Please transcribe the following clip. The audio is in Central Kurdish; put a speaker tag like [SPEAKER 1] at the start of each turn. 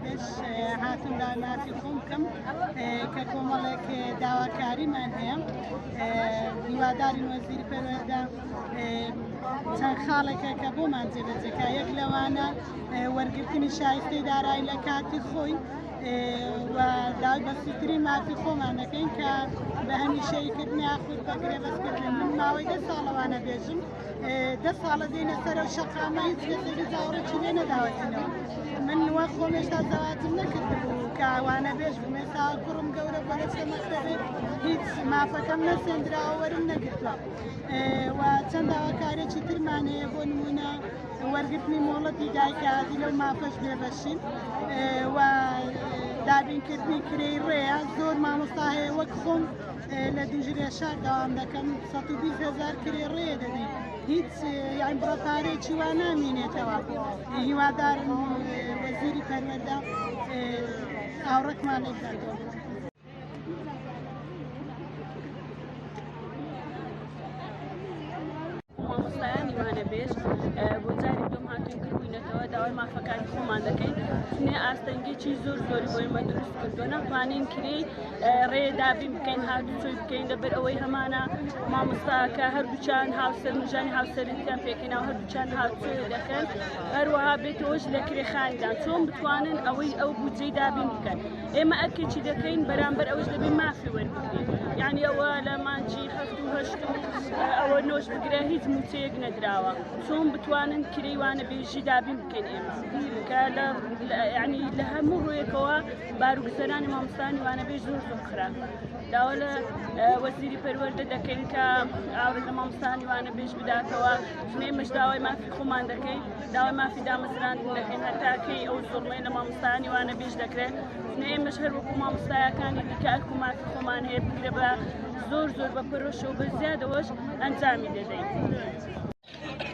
[SPEAKER 1] بەش هاتم داماتی خۆم بکەم کە کۆمەڵێک داواکاریمان هەیە هیواداری وەزیر پەروەردە چەند خاڵێکە کە بۆمان جێبەجێکە یەک لەوانە وەرگرتنی شایستەی دارایی لە کاتی خۆی و داوای بەسیتری مافی خۆمان دەکەین کە بە هەمیشەی کردن یاخود بە گرێبەستکردن من ماوەی دە ساڵەوانە بێژم دە ساڵە دێنە سەر و شەقامە هیچ کەسێکی زاوڕێکی لێ نەداوەتینەوە من وە خۆمێشتا زەواتم نەکردبوو کاوانە بێژ بمێسا کوڕم گەورە بەرەسەمەکەێت هیچ مافەکەم نەسێندراوەرم نەگرتوە و چەند داواکارێکی ترمان هەیە بۆ نمونە وەرگرتنی مۆڵەتی دایکایەتی لەو مافەش بێبەشین و دابینکردنی کرێی ڕێە زۆر مامۆستا هەیە وەک خۆم لە دوژرێ شار داوام دەکەم 120 هزار کرێ ڕێ دەبی هیچ یان بڕە پارێکی وا نامینێتەوە هیوادارم وەزیری پەروەدا ئاوڕەتمان لێکاتەوە
[SPEAKER 2] ئاستەنگێکی زۆر زۆری بۆی مە دروست کردو نەخوانین کری ڕێ دابی بکەین هاتو چۆی بکەین دەبەر ئەوەی هەمانە مامۆستاکە هەردووچان هاوسەر مژان هاوسەرتیان پێکەین و هەردووچان هاوچێ دەکەن هەروەها بێتەوەش لە کرێخاندا چۆن بتوانن ئەوەی ئەو بودجەی دابین بکەن. ئێمە ئەرکێکی دەکەین بەرامبەر ئەوەش دەبێ مافی وەربگرین یعنی ئەوە لە مانجی هەفت و هەشت و ئەوە نۆش بگرە هیچ موچەیەک نەدراوە چۆن بتوانن کرەیوانە بێژی دابین بکەین ئێمە کە لە ینی لە هەموو ڕویەکەوە باروگوزەرانی مامستانی وانە بێ زۆر زۆر خراپ داوا لە وەزیری پەروەەردە دەکەین کە ئاورە لە مامستانی وانە بێژ بداتەوە ژمێ مەشداوای مافی خۆمان دەکەین داوای مافی دامەزراندن دەکەین هەتا کەی ئەو زۆڵمەی لە مامۆستایانی وانە بیش دەکرێت نێمەش هەر وەکو مامۆستایەکانی دیکە ئەرکو مافی خۆمان هەیە بگرە بە زۆر زۆر بە پەرۆشە و بە زیادەوەش ئەنجامی دەدەین. Thank you.